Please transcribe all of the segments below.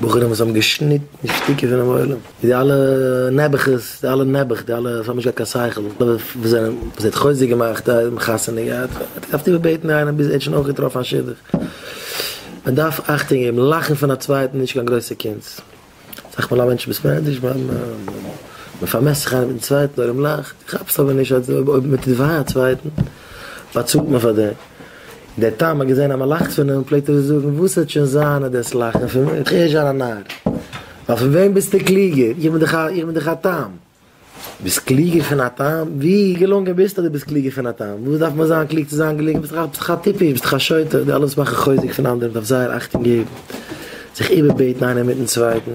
בחורים וואס האבן געשניטן שטיקער פונעם עולם, די אלע נעבעכעס, די אלע נעבעך, די אלע וואס האבן נישט געהאט קיין שכל, וואס זענען, וואס ער האט חוזק געמאכט, ער האט חתונה געהאט, ער האט געדארפט איבערבעטן איינעם, ביז ער האט שוין אויך געטראפן א שידוך. מען דארף אכטונג געבן, לאכן פון א צווייטן איז נישט קיין גרויסע קונץ. סך מאל א מענטש מוז מער ענדערש ווייל מען פארמעסט זיך איינער מיטן צווייטן אויב מ'לאכט, איך כאפ עס אבער נישט אז אויב מען טוט וויי א צווייטן באצאלט מען פאר דעם, דער תם האט געזען אז מען לאכט פון אים פלעגט ער זאגן וואס וועט שוין זיין אז דאס לאכן פון מיר וועט איך ערשט זיין א נאר, ווייל פון וועם ביסטו קלוגער, איך בין דאך א איך בין דאך א תם. ביסט קלוגער פון א תם? ווי געלונגען ביסטו אז דו ביסט קלוגער פון א תם? וואס דארף מען זיין קלוג צו זיין געלונגען? ביסט דאך ביסט דאך א טיפש, ביסט דאך א שוטה, די אלע וואס מאכן חוזק פון אנדערע מען דארף זייער אכטונג געבן, זיך איבערבעטן איינער מיטן צווייטן,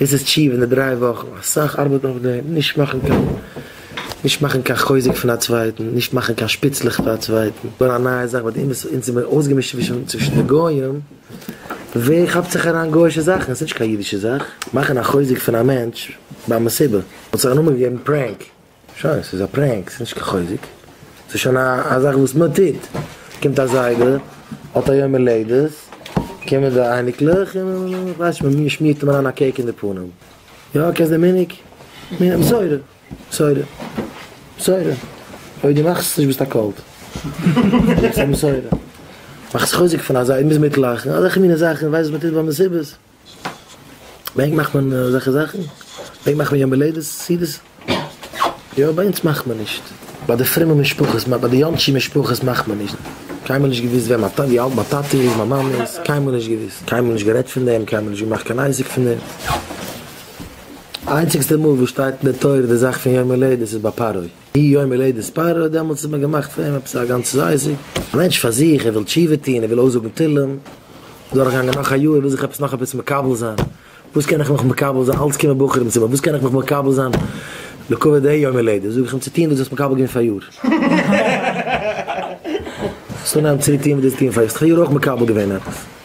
דאס איז תשובה אין די דריי וואכן, אסאך ארבעט אויף דעם, נישט מאכן קיין נישט מאכן קיין חוזק פון א צווייטן, נישט מאכן קיין שפיצלעך פאר א צווייטן, נאר א נייע זאך, ביי די אומות אונז איז מען אויסגעמישט צווישן צווישן די גוים. ווער כאפט זיך אריין גוישע זאכן? עס איז נישט קיין אידישע זאך מאכן א חוזק פון א מענטש ביי מסיבה. מען האט זיך א נאמען געגעבן פרענק. שוין, עס איז א פרענק, עס איז נישט קיין חוזק. עס איז שוין א זאך וואס מען טוט. קומט א זיידע, האט א יום הולדת, קומען די אייניקלעך און מען, כ'ווייס נישט, מען שמירט אים אריין א קעיק אין די פנים. יא, קענסט די מנהג? מנהג מסורה. מסורה. מסורה. אויב דו מאכסט עס נישט ביסטו א קולט. דו ביסט א מסורה. מאך זיך חוזק פון אזא, מוז מיטלאכן. אזעלכע מינע זאכן, ווייסט וואס מ'טוט ביי מסיבות? ביי ענק מאכט מען אזעלכע זאכן? ביי ענק מאכט מען יום הולדת סעודות? יא, ביי אונז מאכט מען נישט. ביי די פרומע משפחות, ביי די יאנטשי משפחות מאכט מען נישט. קיינמאל נישט געוואוסט וועם א טאטע, ווי אלט מיין טאטע איז, מיין מאמע איז. קיינמאל נישט געוואוסט. קיינמאל נישט גערעדט פון דעם, קיינמאל נישט געמאכט קיין עסק פון דעם. איינציגסטע מאל וואס שטייט אין די תורה די זאך פון יום הולדת איז ביי פרעה, אי יום הולדת פרעה, דעמאלטס האט מען געמאכט פון אים עפעס א גאנץ זייזיג, א מענטש פאר זיך, ער וויל תשובה טון, ער וויל אויסזאגן תהלים, דורך גאנגען נאך א יאר, ער וויל זיך עפעס נאך עפעס מקבל זיין, וואס קען איך מיך מקבל זיין, אלץ קומען בחורים צו מיר, וואס קען איך מיך מקבל זיין לכבוד דעי יום הולדת, זאג איך אים צו טון וואס דו האסט מקבל געווען פאריאר, ס'איז אנגעהויבן צוריק טון וואס דו האסט געטון פאריאר, האסט דאך פאריאר אויך מקבל געווען עפעס.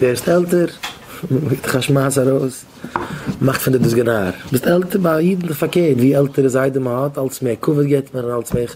ווערסט עלטער, גיבט דיך א שמייס ארויס, מאכט פון דיר דאס גענאר. ביסט עלטער, ביי א איד איז פארקערט, ווי עלטערע זיידע מען האט, אלץ מער כבוד געבט מען און אלץ מער